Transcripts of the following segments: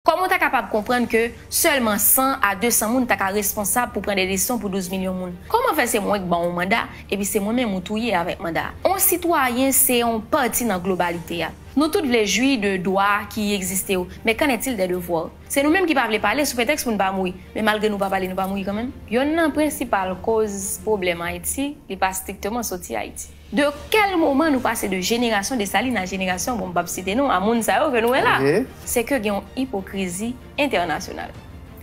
Kòm ou ta kapab konprann ke sèlman 100 a 200 moun ta ka responsab pou pran de desizyon pou 12 milyon moun. Kòman fè se mwen k ban ou manda, epi se mwen menm ou touye avèk manda a? On sitwayen se on pati nan globalite a. Nou tout vle jwi de dwa ki egziste yo, men qu'en est-il des devoirs? Se nou menm ki pa vle pale sou pretèks pou n pa mouri, men malgre nou pa pale nou pa mouri kanmenm? Yonn nan prensipal koz pwoblèm Ayiti, li pa strikteman soti Ayiti. De kèl moman nou pase de jenerasyon Desalin a jenerasyon bon m pap site non a moun sa yo ke nou wè la? Se ke gen yon ipokrizi entènasyonal.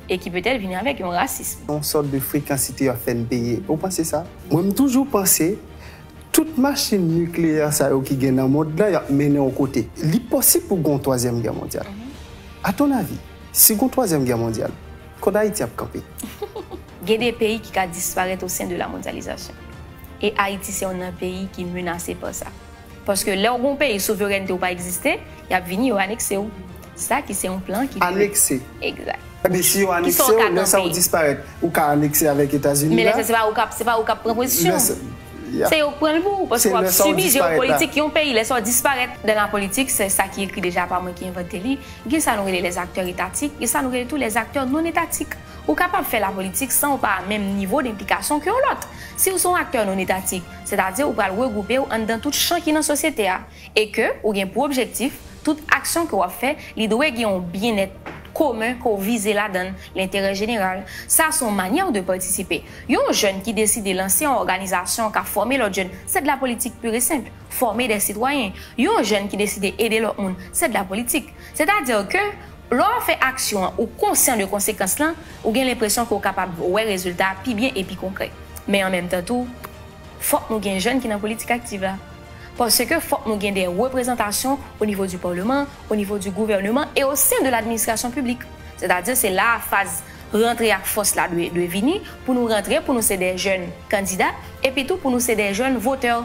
E ki petèt vini avèk yon rasism. Yon sòt de frekansite yo ap fè n peye. Ou panse sa? Mwen m toujou panse tout machin nikleyè sa yo ki gen nan mond la y ap mennen yon kote. Li posib pou gen yon twazyèm gè mondyal. A ton avi, si gen yon twazyèm gè mondyal, kòd Ayiti ap kanpe? Gen de peyi ki ka disparèt osen de la mondyalizasyon. E Ayiti se youn nan peyi ki menase pa sa. Paske lè w gen yon peyi souverènte w pa egziste, y ap vini yo anekse w. Sa ki se yon plan ki dwe. Anekse. Egzat. Ebyen si yo anekse w. Ki sa w ka kanpe. Lè sa w disparèt, ou ka anekse avèk Etazini la. Men lè sa se pa ou k ap, se pa ou k ap pran pozisyon. Lè sa. Se yo k pran l pou ou. Paske w ap sibi jewopolitik yon peyi. Lè sa w disparèt. Dan la politik, se sa ki ekri deja pa mwen ki envante li, gen sa nou rele lèzaktè etatik, gen sa nou rele tou lèzaktè nonetatik. Ou kapab fè lapolitik san ou pa a menm nivo denplikasyon ke yon lòt. Si ou se yon aktè nonetatik, sètadi ou pral regwoupe ou anndan tout chan ki nan sosyete a, e ke ou gen pou objektif, tout aksyon ke w ap fè, li dwe gen yon byennèt komen ke w vize ladan l, lenterè jeneral. Sa a se yon manyè ou dwe patisipe. Yon jèn ki deside lanse yon òganizasyon k ap fòme lòt jèn, sè de lapolitik pur e senpl, fòme dè sitwayen. Yon jèn ki deside ede lòt moun, sè de lapolitik. Sètadi ke. Lè w ap fè aksyon an, ou konsyan de konsekans lan, ou gen lenpresyon ke w kapab wè rezilta a pi byen e pi konkrè. Men an menm tan tou, fòk nou gen jèn ki nan politik aktiv la. Paske fòk nou gen de reprezantasyon o nivo di paleman, o nivo di gouvèneman e o sen de ladministrasyon piblik. Sètadi se la a faz rantre ak fòs la dwe vini, pou nou rantre, pou nou se de jèn kandida, epi tou pou nou se de jèn votè.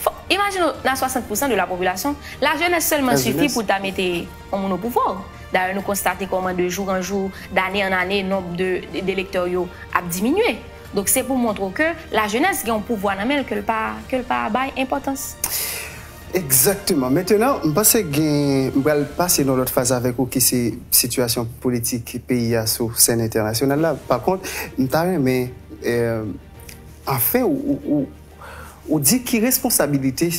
Fòk, imajine w nan 60 pousan de la popilasyon, la jenès sèlman sifi pou ta mete. yon moun opouvwa w. Dayè nou konstate kòman de jou an jou, dane an ane nonb de elektè w yo ap diminye. Donk se pou montre w ke lajenès gen yon pouvwa nan men l ke l pa ke l pa bay enpòtans. Egzakteman. Mentenan, m panse gen m pral pase nan lòt faz avèk ou ki se sitiyasyon politik peyi a sou sèn entènasyonal la. Pakont, m ta renmen anfen ou di ki responsabilite.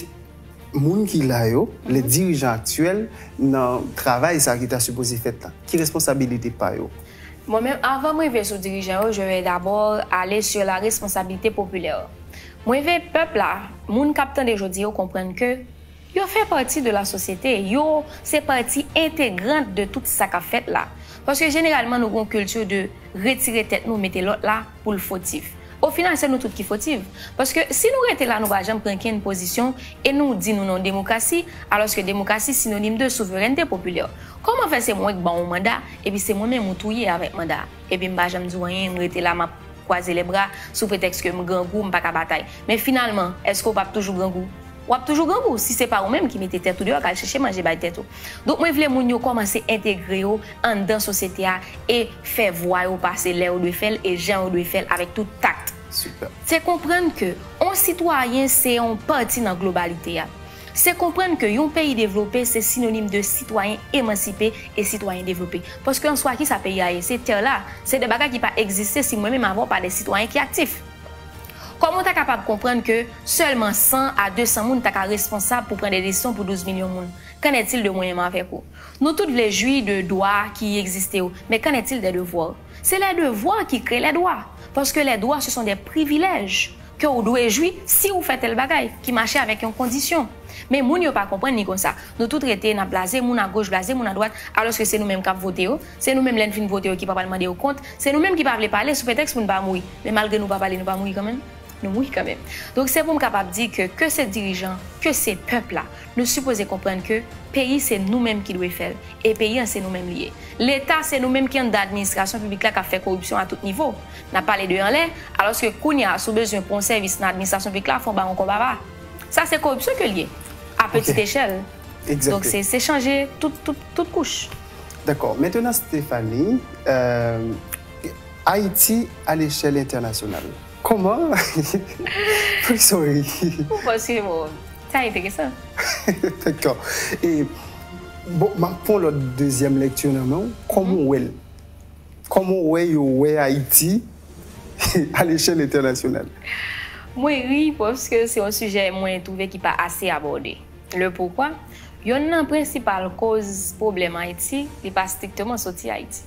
Moun ki la yo, lè dirijan aktyèl nan travay sa ki ta sipoze fèt la? Ki responsabilite pa yo? Mwen menm avan m rive sou dirijan yo je vais d'abord aller sur la responsabilité populaire. Mwen ve pèp la, moun k ap tande jodi yo konprann ke yo fè pati de la sosyete, yo se pati entegrant de tout sa k ap fèt la. Paske jeneralman nou gen yon culture de retire tèt nou mete lòt la. pou l fotif. Ofinal se nou tout ki fotif. Paske si nou rete la nou pa janm pran kenn pozisyon e nou di nou nan yon demokrasi alòske demokrasi sinonim de souverènte popilè. Kòman fè se mwen k ban ou manda epi se mwen menm ou touye avèk manda a? Epi m pa janm di w anyen, m rete la m ap kwaze lèbra sou pretèks ke m grangou, m pa ka batay. Men finalman, èske w p ap toujou grangou? W ap toujou grangou si se pa ou menm ki mete tèt ou deyò k al chèche manje bay tèt ou. Donk mwen vle moun yo kòmanse entegre yo anndan sosyete a e fè vwa yo pase lè yo dwe fè l e jan yo dwe fè l avèk tout takt. Se konprann ke on sitwayen se on pati nan globalite a. Se konprann ke yon peyi devlope se sinonim de sitwayen emansipe e sitwayen devlope. Paske an swa kisa peyi a ye? Se tè la. Se de bagay ki pa egziste si mwen menm avè w pa de sitwayen ki aktif. Kòman w ta kapab konprann ke sèlman 100 a 200 moun ta ka responsab pou pran de desizyon pou 12 milyon moun? Qu'en est-il de mwen menm avèk ou? Nou tout vle jwi de dwa ki egziste yo, men qu'en est-il des devoirs? Se les devoirs ki kreye les droits, paske les droits se son de privilèj ke ou dwe jwi si ou fè tèl bagay, ki mache avèk yon kondisyon. Men moun yo pa konprann li konsa. Nou tout rete n'ap blaze moun agoch, blaze moun adwat, alòske se nou menm k'ap vote yo, Se nou menm lè n fin vote yo ki pa pral mande yo kont, se nou menm ki pa vle pale sou pretèks pou n pa mouri. Men malgre nou pa pale nou pa mouri kanmenm? Nou mouri kanmenm. Donk se pou m kapab di ke ke se dirijan, ke se pèp la, nou sipoze konprann ke peyi se nou menm ki dwe fè l e peyi an se nou menm li ye. Leta se nou menm ki anndan administrasyon piblik la k ap fè koripsyon a tout nivo. N ap pale de anlè, alòske kounye a si w bezwen pou yon sèvis nan administrasyon piblik la fò w ba yon kòb ava. Sa se koripsyon ke l ye a petite echèl. Donk se chanje tout kouch. Dakò. Mentenan Stefani, euh, Ayiti a lechèl entènasyonal, kòman? Poukisa w ri? Ou panse m ou? Sa enteresan. Dakò. E, bon, m ap pran yon lòt dezyèm lekti nan men w. Kòman ou wè l? Kòman ou wè yo wè Ayiti a lechèl entènasyonal? Mwen ri paske se yon sijè mwen twouve ki pa ase abòde. Le pourquoi, Yonn nan prensipal koz pwoblèm Ayiti, li pa strikteman soti Ayiti.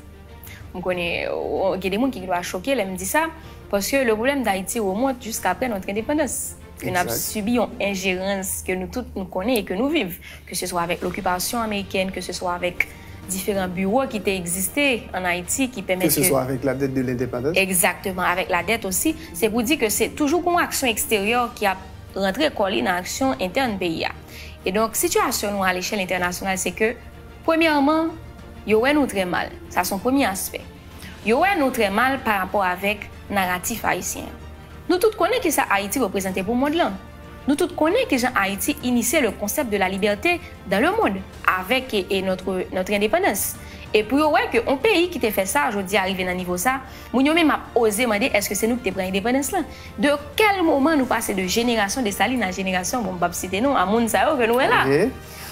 M konnen gen de moun ki gen dwa choke lè m di sa, paske le pwoblèm d'Ayiti remont jisk apre notre indépendance, ke n ap sibi yon enjerans ke nou tout nou konnen e ke nou viv, ke se swa avèk lokipasyon amerikèn, ke se swa avèk diferan biwo ki te egziste an Ayiti ki pèmèt ke. Ke se swa avèk la dèt de lendepandans. Egzakteman, avèk la dèt osi. Se pou di ke se toujou gon aksyon eksteryè ki ap rantre kò li nan aksyon entèn peyi a. E donk, sitiyasyon nou alechèl entènasyonal se ke, premyèman, yo wè nou trè mal. Sa se yon premye aspè. Yo wè nou trè mal parapò avèk naratif ayisyen an. Nou tout konnen ki sa Ayiti reprezante pou mond lan. Nou tout konnen ki jan Ayiti inisye le konsèp de la libète dan le mond avèk notre, notre indépendance. E pou yo wè ke yon peyi ki te fè sa, jodi a rive nan nivo sa, Moun yo menm ap oze mande eske se nou ki te pran endepandans lan? De kèl moman nou pase de jenerasyon Desalin a jenerasyon, bon m pap site non, a moun sa yo ke nou wè la?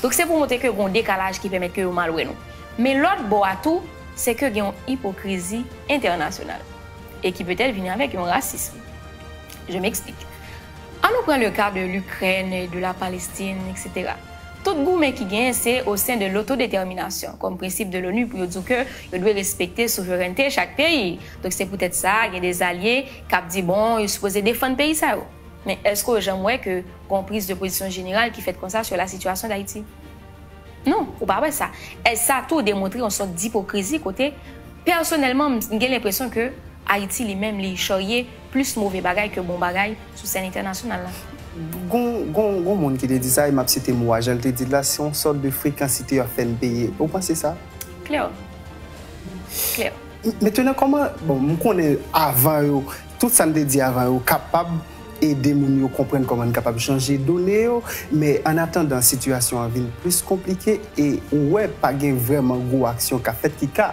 Donk se pou montre ke gon dekalaj ki pèmèt ke yo mal wè nou. Men lòt bò a tou, se ke gen yon ipokrizi entènasyonal. E ki petèt vini avèk yon rasism. Je m'explique. An nou pran le ka de Lukrèn, de la Palestin, etc. Tout goumen ki genyen se o sen de lotodetèminasyon, kòm prensip de l'ONU pou yo di w ke yo dwe respekte souverènte chak peyi. Donk se poutèt sa, gen de zalye k ap di bon, yo sipoze defann peyi sa yo. Men èske w janm wè ke gen yon priz de pozisyon jeneral ki fèt konsa sou la sitiyasyon Dayiti? Non, ou pa wè sa. È sa tou demontre yon sòt dipokrizi kote, pèsonèlman, m gen lenpresyon ke Ayiti li menm li chòrye Plis move bagay ke bon bagay sou sèn entènasyonal la. Gon moun ki te di sa e map site mo a jan l te di l la, se yon sòt de frekansite yo ap fè n peye. Ou panse sa? Klè. Klè. Mentenan kòman, bon m konnen avan yo, tout sa n te di avan yo kapab ede moun yo konprann kòman n kapab chanje done yo, men an atandan sitiyasyon an vin plis konplike e ou wè pa gen vrèman gwo aksyon k ap fèt ki ka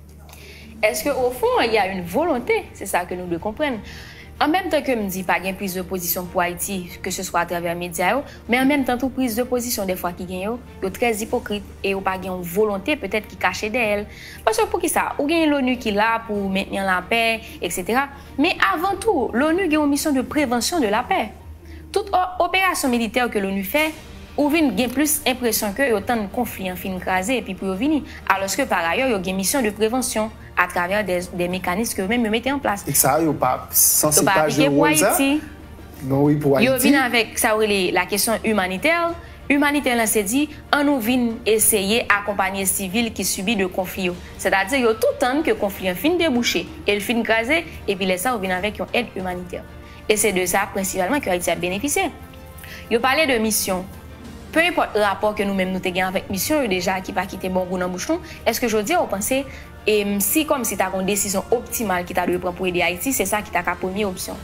Eske o fon il y a une volonte, se sa ke nou dwe konprann. An menm tan ke m di pa gen priz de pozisyon pou Ayiti ke se swa atravè medya yo, men an menm tan tou priz de pozisyon dèfwa ki gen yo, yo trè ipokrit e yo pa gen yon volonte petèt ki kache dèyè l. Paske poukisa? Ou genyen l'ONU ki la pou mentni an lapè etc. Men avan tou, l'ONU gen yon misyon de prevansyon de lapè. Tout o operasyon militè ke l'ONU fè, Ou vin gen plis enpresyon ke yo tann konfli an fin kraze epi pou yo vini, alòske parayè yo gen misyon de prevansyon atravè dè mekanis ke yo menm yo mete an plas. E sa a yo pa sanse pa jwe wòl sa? Non wi pou Ayiti. Yo vin avèk sa yo rele la kesyon imanitè. Imanitè lan se di, an nou vin eseye akonpanye sivil ki sibi de konfli yo. Sètadi yo tou tann ke konfli an fin debouche e l fin kraze epi lè sa yo vin avèk yon èd imanitè. E se de sa prensipalman ke Ayiti ap benefisye. Yo pale de misyon. Peu enpòt rapò ke nou menm nou te gen avèk misyon yo deja ki pa kite bon gou nan bouch nou, èske jodi a ou panse e si kòm si ta gen yon desizyon optimal ki ta dwe pran pou ede Ayiti se sa ki ta ka premye opsyon?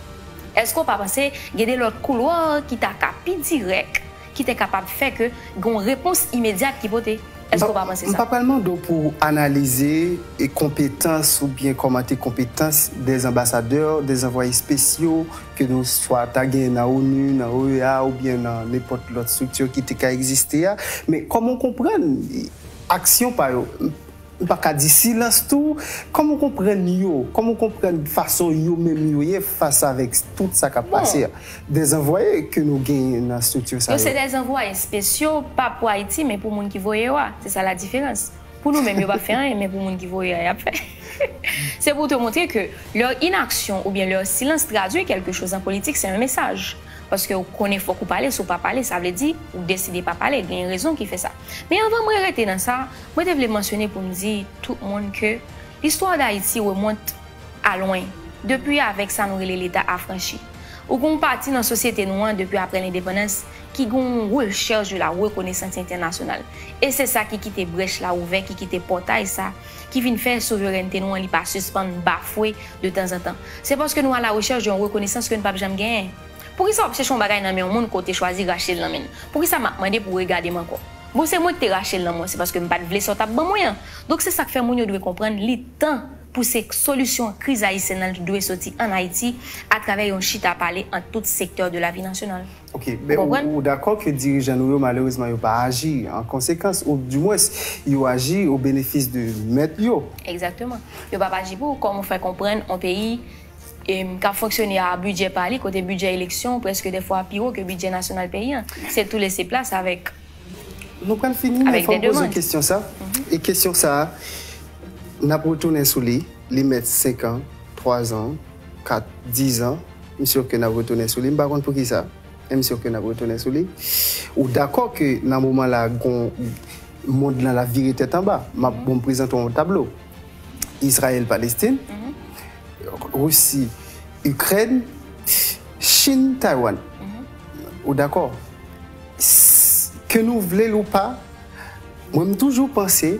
Èske ou pa panse gen de lòt koulwa ki ta ka pi dirèk Ki te kapab fè ke gen yon repons imedyat ki pote. Èske ou pa panse sa? M pa pral mande w pou w analize konpetans oubyen kòmante konpetans dè anbasadè, dè anvwaye espesyo ke nou swa ta genyen nan onu, nan OEA oubyen nan nenpòt lòt estrikti ki te ka egziste a. Men kòman w konprann aksyon pa yo? Ou pa ka di silans tou. Kòman ou konprann yo? Kòman ou konprann fason yo menm yo ye fas avèk tout sa k ap pase a? Dezanvwaye ke nou genyen nan estrikti sa yo. Yo se dezanvwaye spesyo, pa pou Ayiti men pou moun ki voye yo a. Se sa ladiferans. Pou nou menm yo p ap fè anyen men pou moun ki voye a y ap fè. Se pou te montre ke lè inaksyon oubyen lè silans tradwi kèlke choz an politik se yon mesaj. Paske ou konnen fòk ou pale, si ou pa pale sa vle di ou deside pa pale, genyen rezon ki fè sa. Men anvan mwen rete nan sa, Mwen te vle mansyone pou m di tout moun ke listwa Dayiti remont a lwen, depi avèk sa nou rele Leta afranchi. Ou gen yon pati nan sosyete nou an depi aprè lendepandans ki gen yon rechèch de la rekonesans entènasyonal, e se sa ki kite brèch la ouvè, ki kite pòtay sa, ki vin fè souverènte nou an li pa sispann bafwe de tanzantan. Se paske nou a la rechèch de yon rekonesans ke n pap janm genyen. Poukisa wap chèche yon bagay nan men yon moun ke w te chwazi rache l nan men l? Poukisa map mande pou w regade m ankò? Bon se mwen ki te rache l nan men w se paske m pat vle sa w tap ban mwen an. Donk se sak fè moun yo dwe konprann li tan pou se solisyon kriz ayisyèn nan li dwe soti an Ayiti atravè yon chita pale ant tout sektè de lavi nasyonal. Ok, men ou dakò ke dirijan nou yo malerezman yo pa aji an konsekans ou di mwens yo aji o benefis de mèt yo? Egzakteman. Yo pap aji pou, kòm ou fè konprann yon peyi k ap fonksyone a bidjè pa li, kote bidjè eleksyon prèske de fwa pi wo ke bidjè nasyonal peyi an. Se tou lese plas avèk Nou pral fini, men fò m poze w kesyon sa, e kesyon sa a, n ap retounen sou li, li mèt senkan, twazan, kat, dizan, m sur ke n ap retounen sou li, m pa konn poukisa, men m sur ke n ap retounen sou li. Ou dakò ke nan moman la, gon, mond lan l ap vire tèt anba? M ap, bon, m prezante w yon tablo. Izrayèl Palestin, Risi Ikrèn, Chin Taywann. Ou dakò? Ke nou vle l ou pa, mwen m toujou panse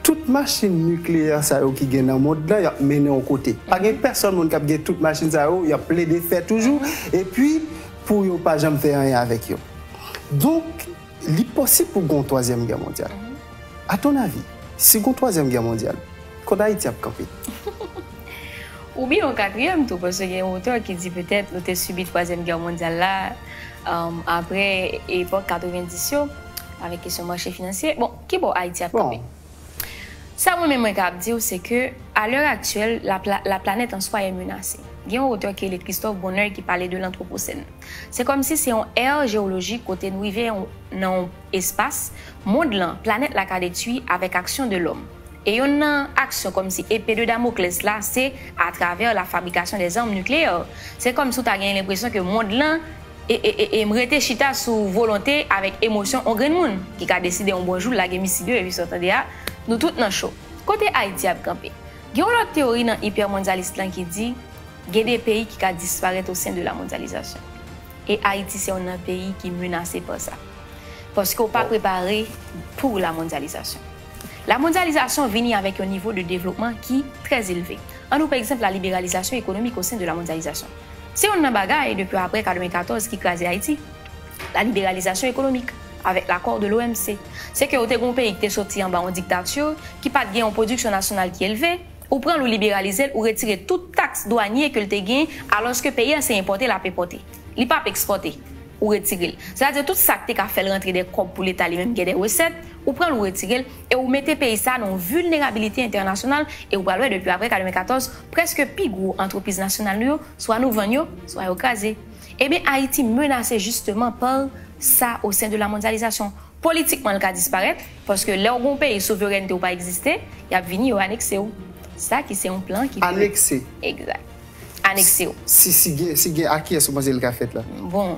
tout machin nikleyè sa yo ki gen nan mond lan y ap mennen yon kote. Pa gen pèsòn moun k ap gen tout machin sa yo, y ap plede fè toujou epi pou yo pa janm fè anyen avèk yo. Donk. Li posib pou gen yon twazyèm gè mondyal. A ton avi, si gen yon twazyèm gè mondyal, kot Ayiti ap kanpe? Oubyen yon katriyèm tou, paske gen yon otè ki di petèt nou te sibi twazyèm gè mondyal la apre epòk 90 yo, avèk kesyon mache finansye. Bon, ki bò Ayiti ap kanpe? Bon, Sa mwen menm mwen ka ap di w se ke a lè aktyèl la planèt an swa e menase. Gen yon otè ki rele Christophe Bonneuil ki pale de lantwoposèn. Se kòm si se yon ère jewolojik kote nou rive nan yon espas mond lan, planèt la ka detwi avèk aksyon de lòm. E yonn nan aksyon kòm si epe de Damoclès la se atravè la fabrikasyon de zam nikleyè. Se kòm si w ta genyen lenpresyon ke mond lan. e e e e m rete chita sou volonte avèk emosyon on grenn moun ki ka deside on bon jou lage misil yo epi sa w tande a nou tout nan cho kote Ayiti ap kanpe gen on lòt teyori nan ipèmondyalist lan ki di gen de peyi ki ka disparèt o sen de la mondyalizasyon e Ayiti se on nan peyi ki menase pa sa paske w pa prepare pou la mondyalizasyon la mondyalizasyon vini avèk yon nivo de devlopman ki trè elve an nou pè egzanp la liberalizasyon ekonomik o sen de la mondyalizasyon. Se youn nan bagay, depi apre 94 ki kraze Ayiti, la liberalizasyon ekonomik, avèk lakò de l'OMC. Se ke ou te gen yon peyi ki te soti anba yon diktati, ki pa t gen yon pwodiksyon nasyonal ki elve, ou pran l ou liberalize l, ou retire tout taks dwanye ke l te gen, alòske peyi a se enpòte l ap enpòte. Li p ap ekspòte. Ou retire l. Sètadi tout sa k te ka fè l rantre dè kòb pou leta li menm gen dè resèt, ou pran l ou retire l. e ou mete peyi sa a nan yon vilnerabilite entènasyonal, e ou pral wè depi aprè 94, prèske pi gwo antrepriz nasyonal nou yo, swa nou vann yo, swa yo kraze. Ebyen Ayiti menase jisteman par sa o sen de la mondyalizasyon. Politikman l ka disparèt, paske lè w gen yon peyi souverènte w pa egziste, y ap vini yo anekse w. Sa ki se yon plan ki pwouve. Anekse. Egzat. Anekse w. Si gen, si gen a kiyès ou panse l ka fèt la? Bon.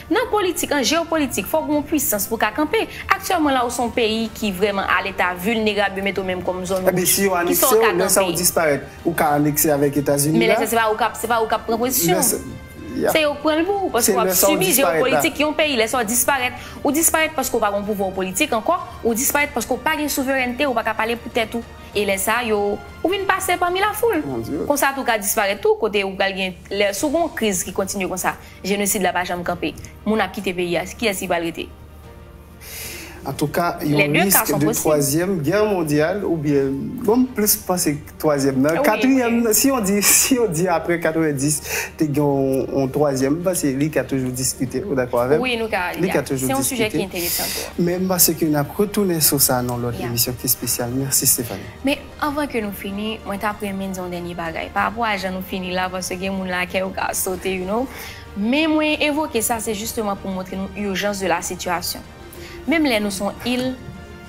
Nan politik, an jeopolitik, fòk gen yon pwisans pou ka kanpe. Aktyèlman la ou son peyi ki vrèman a leta vilnerab yo mete w menm kòm zòn wouj. Ki sa w ka kanpe? Ebyen si yo anekse w, lè sa ou disparèt. Ou ka anekse avèk Etazini la. Men lè sa se pa ou k ap, se pa ou k ap pran pozisyon. Se yo k pran l pou ou. Paske w ap sibi jeopolitik yon peyi. Lè sa ou disparèt, ou disparèt paske ou pa gon pouvwa ou politik ankò. Ou disparèt paske ou pa gen souverènte, ou pa ka pale pou tèt ou. E lè sa yo, ou vin pase pami lafoul. Konsa tou ou ka disparèt tou kote ou pral gen, lè si w gon kriz ki kontinye konsa. Jenosid la pa janm kanpe. Moun ap kite peyi a, kiyès ki pral rete? Antouka, yon risk de twazyèm gè mondyal oubyen, bon m plis panse twazyèm nan, katriyèm nan, si yon di, si yon di aprè 90 te gen yon twazyèm, m panse li ka toujou diskite, ou dakò avè m? Wi, nou ka, li ka toujou diskite. Se yon sijè ki enteresan tou. Men m panse ke n ap retounen sou sa nan yon lòt emisyon ki espesyal. Mèsi Stéphanie. Anvan ke nou fini, mwen tap renmen di yon dènye bagay, pa rapò a jan nou fini la, paske gen moun la kè yo ka sote you know, men mwen evoke sa se jisteman pou montre nou urgence de la situation. Menm lè nou son il,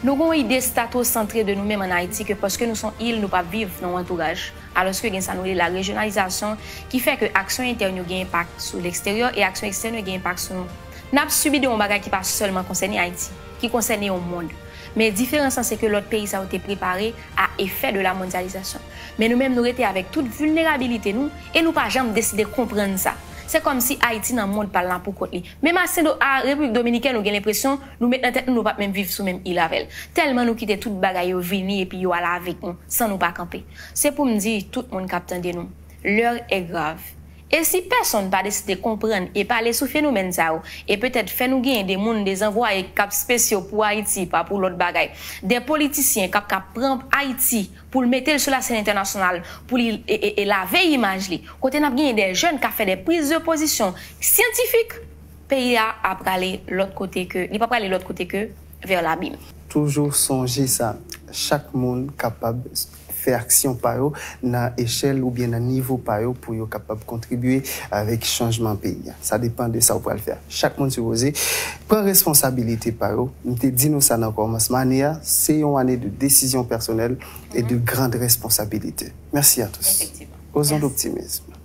nou gen yon ide statosantre de nou menm an Ayiti ke paske nou son il nou pap viv nan yon antouraj, alòske gen sa nou rele la rejyonalizasyon ki fè ke aksyon entèn yo gen enpak sou leksteryè e aksyon ekstèn yo gen enpak sou nou. Nap sibi de yon bagay ki pa sèlman konsène Ayiti, ki konsène yon mond. Men diferans lan se ke lòt peyi sa yo te prepare a efè de la mondyalizasyon. Men nou menm nou rete avèk tout vilnerabilite nou e nou pa janm deside konprann sa. Se kòm si Ayiti nan mond pa l lan pou kont li. Menm a Sen a Repiblik Dominikèn ou gen lenpresyon nou met nan tèt nou nou pa p menm viv sou menm il avè l. Tèlman nou kite tout bagay yo vini epi yo al avèk nou san nou pa kanpe. Se pou m di tout moun k ap tande nou, L'heure est grave. E si pèsonn pa deside konprann e pale sou fenomèn sa yo, e petèt fè nou genyen de moun dezanvwaye k ap spesyo pou Ayiti pa pou lòt bagay, de politisyen k ap ka pran Ayiti pou l mete l sou lasèn entènasyonal pou li lave imaj li, kote n ap genyen de jèn k ap fè de prizdepozision syantifik, peyi a a prale lòt kote ke, li pa prale lòt kote ke vers l'abîme. Toujou sonje sa, chak moun kapab fè aksyon pa yo nan echèl oubyen nan nivo pa yo pou yo kapab kontribye avèk chanjman peyi a. Sa depan de sa ou pral fè a. Chak moun sipoze pran responsabilite pa yo. M te di nou sa nan kòmansman ane a, se yon ane de desizyon pèsonèl e de grand responsabilite. Mèsi a tous. Osons l'optimisme.